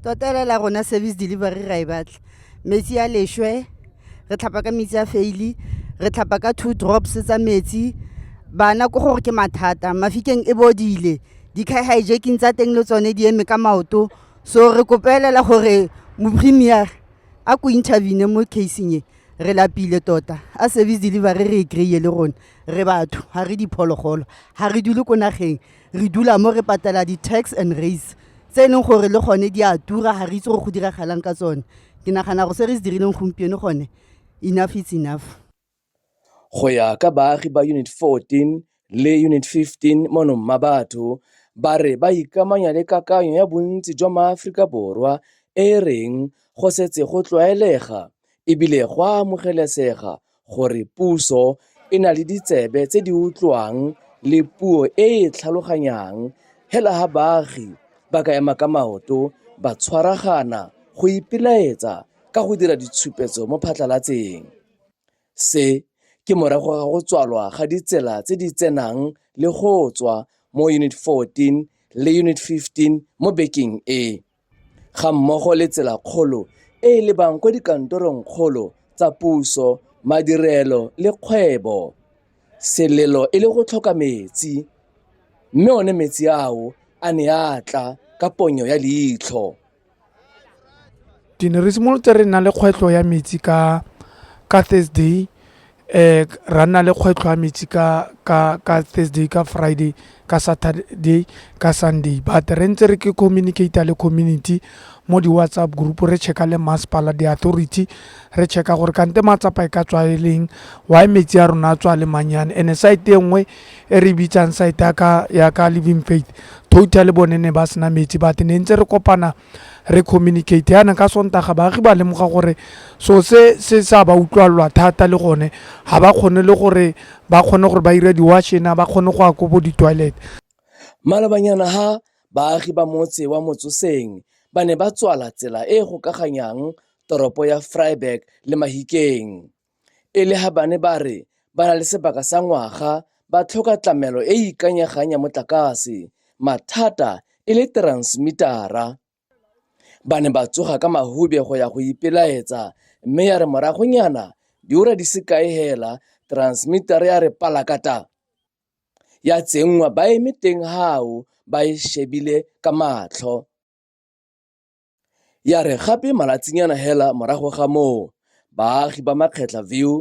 Tota ele la rona service delivery ra e batla. Metsi a leshwe, re tlhapa ka metsi a faili, re tlhapa ka two drops tsa metsi. Bana ko gore ke mathata, mafikeng e bodile. Di-car hijacking tsa teng le tsone di eme ka maoto. So re kopelela gore mo-premier a ko intervene mo casing e. Re lapile tota, a service delivery re e kry-e le rona. Re batho, ha re diphologolo, ha re dule ko nageng. re dula mo re patela di-tax and race tse e leng gore le gone di a tura ga re itse gore go diragalang ka tsone ke nagana go se re se dirileng gompieno gone enough is enough go ya ka baagi ba unit 14 le unit 15 mono mma batho ba re ba ikamanya le kakanyo ya bontsi jwa maaforika borwa e reng go setse go tlwaelega ebile go a amogelesega gore puso e na le ditsebe tse di utlwang le puo e e tlhaloganyang hela ha baagi ba ka ema ka maoto ba tshwaragana go ipelaetsa ka go dira ditshupetso mo phatlalatseng se ke morago ga go tswalwa ga ditsela tse di tsenang le go tswa mo unit 14 le unit 15 mo bekeng e gammogo le tselakgolo e e lebang kwa dikantorongkgolo tsa puso, madirelo le kgwebo. Selelo e le go tlhoka metsi, mme one metsi ao a ne a tla ka ponyo ya leitlho. Ke ne re simolotse re nna le kgwetlho ya metsi ka Thursday um ra nna le kgwetlho ya metsi ka Thursday, ka Friday, ka Saturday, ka Sunday. But re ntse re ke communicate-a le community mo di-WhatsApp group-u, re check-a le masepala, di-authority, re check-a gore kante matsapa e ka tswa e leng, why metsi a rona a tswa a le mannyane. And-e side e nngwe e re e bitsang side ya ka Living Faith, totally bone ne ba sena metsi but ne ntse re kopana. re communicate yana ka sontaga baagi ba lemoga gore so se se sa ba utlwalelwa thata le gone ga ba kgone le gore ba kgone gore ba ira di-washena ba kgone go ya ko bo di-toilet malobanyana ha baagi ba motse wa motsoseng ba ne ba tswala tsela e e gokaganyang toropo ya fryburg le mahikeng e le ga bane ba re ba na le sebaka sa ngwaga ba tlhoka tlamelo e e ikanyegang ya motlakase, mathata e le teransemitara. Ba ne ba tsoga ka mahube go ya go ipelaetsa mme ya re moragonyana diura di se kae hela teransemitara ya re palakata ya tsenngwa ba eme teng hao ba e shebile ka matlho. Ya re gape malatsinyana hela morago ga moo, baagi ba Makgetla View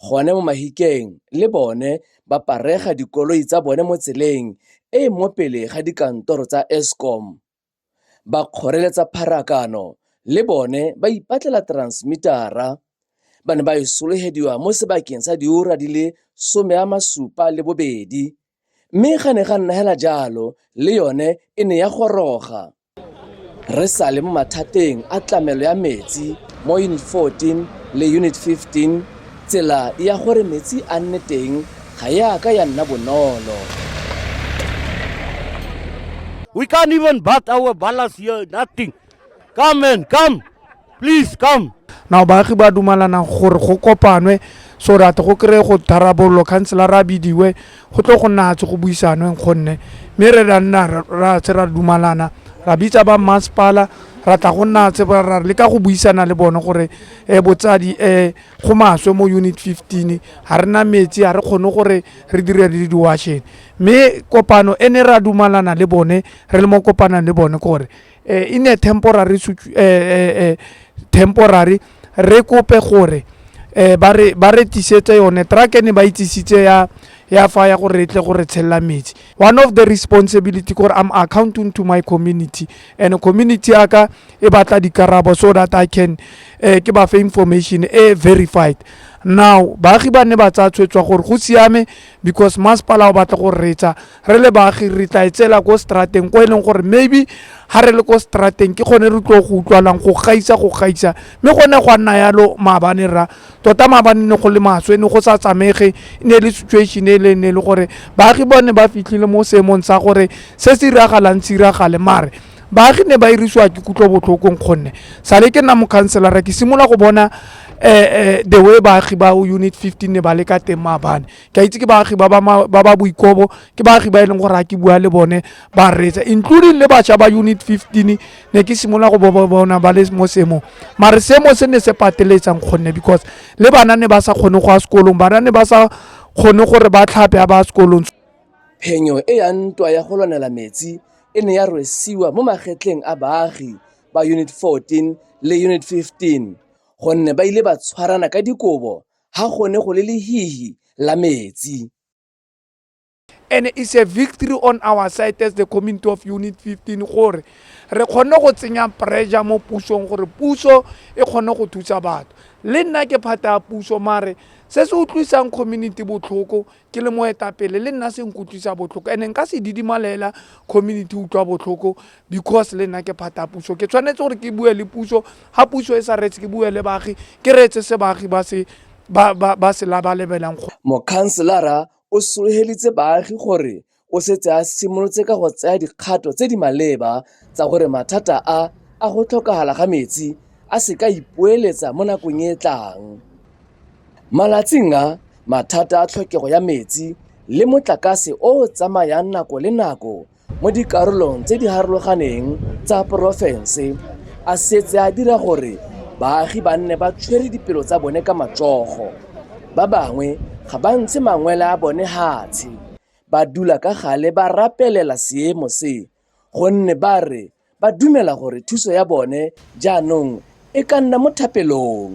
gone mo Mahikeng le bone ba parega dikoloi tsa bone mo tseleng e e mo pele ga dikantoro tsa Eskom. Ba kgoreletsa pharakano le bone ba ipatlela transmitara. Ba ne ba e sologediwa mo sebakeng sa diura di le some a masupa le bobedi Mme ga ne ga nna hela jalo, le yone e ne ya goroga. Re sale mo mathateng a tlamelo ya metsi mo Unit 14 le Unit 15, tsela ya gore metsi a nne teng ga e a ka ya nna bonolo. We can't even bath our ballas here, nothing. Come man, come. Please come. Now baagi ba dumalana gore go kopanwe so that go kry go tharabololo councilor a bidiwe go tlo go nna tse go buisanweng gonne mme re ra nna ra tse ra dumalana ra bitsa ba masepala ra tla go nna tse ra le ka go buisana le bone gore um botsadi um go maswe mo unit fifteen ga re na metsi ga re kgone gore re dire le diwasheng mme kopano e ne ra dumalana le bone re le mo kopanang le bone kore eh, in a temporary eh, temporary re kope gore eh ba re ba re tisetse yone truck ene ba itsisitse ya ya fa ya gore tle gore tshella metsi one of the responsibility gore i'm accounting to my community and community aka e batla dikarabo so that i can eh ke ba fa information e verified now baagi ba ne ba tsaya tshwetswa gore go siame because masepala o batla go retsa re le baagi re tla e tsela ko strateng ko e leng gore maybe ga re le ko strateng ke kgone re tlo go utlwalang go gaisa go gaisa mme go ne gwa nna yalo maabane ra tota maabane ne go le maswe e ne go sa tsamege e ne le situation e le ne e le gore baagi bone ba fitlhile mo seemong sa gore se se iragalang se iragale mare baagi ne ba irisiwa ke kutlwa botlhokong kgonne sale ke nna mokhanselara ke simolola go bona um the way baagi ba unit fifteen ne ba le ka teng maabane ke a itse ke baagi ba ba boikobo ke baagi ba e leng gore a ke bua le bone ba reetsa including le bašwa ba unit 15 ne ke simolola go boba bona ba le mo seemong mare seemo se ne se pateletsang kgonne because le bana ne ba sa kgone go ya sekolong bana ne ba sa kgone gore ba tlhape a ba sekolong phenyo e ya ntwa ya go lwanela metsi e ne ya rwesiwa mo magetleng a baagi ba unit 14 le unit 15 gonne ba ile ba tshwarana ka dikobo ha go ne go le lehihi la metsi. And it's a victory on our side as the community of Unit 15 gore re kgone go tsenya pressure mo pusong gore puso e kgone go thusa batho. Le nna ke phata ya puso mare se se utlwisang community botlhoko ke le moetapele le nna se nkutlwisa botlhoko and-e nka se didimalela community utlwa botlhoko because le nna ke phata puso ke tshwanetse gore ke bue le puso ga puso e sa reetse ke bue le baagi ke reetse se baagi ba se ba se labalebelang. Mokhanselara o sologeditse baagi gore O setse a simolotse ka go tsaya dikgato tse di maleba tsa gore mathata a a go tlhokagala ga metsi a se ka ipoeletsa mo nakong e e tlang. Malatsing a, mathata a tlhokego ya metsi le motlakase o o tsamayang nako le nako mo dikarolong tse di harologaneng tsa porofense a setse a dira gore baagi ba nne ba tshwere dipelo tsa bone ka matsogo. Ba bangwe ga ba ntshe mangwele a bone hatshe Ba dula ka gale ba rapelela seemo se gonne ba re ba dumela gore thuso ya bone jaanong e ka nna mo thapelong.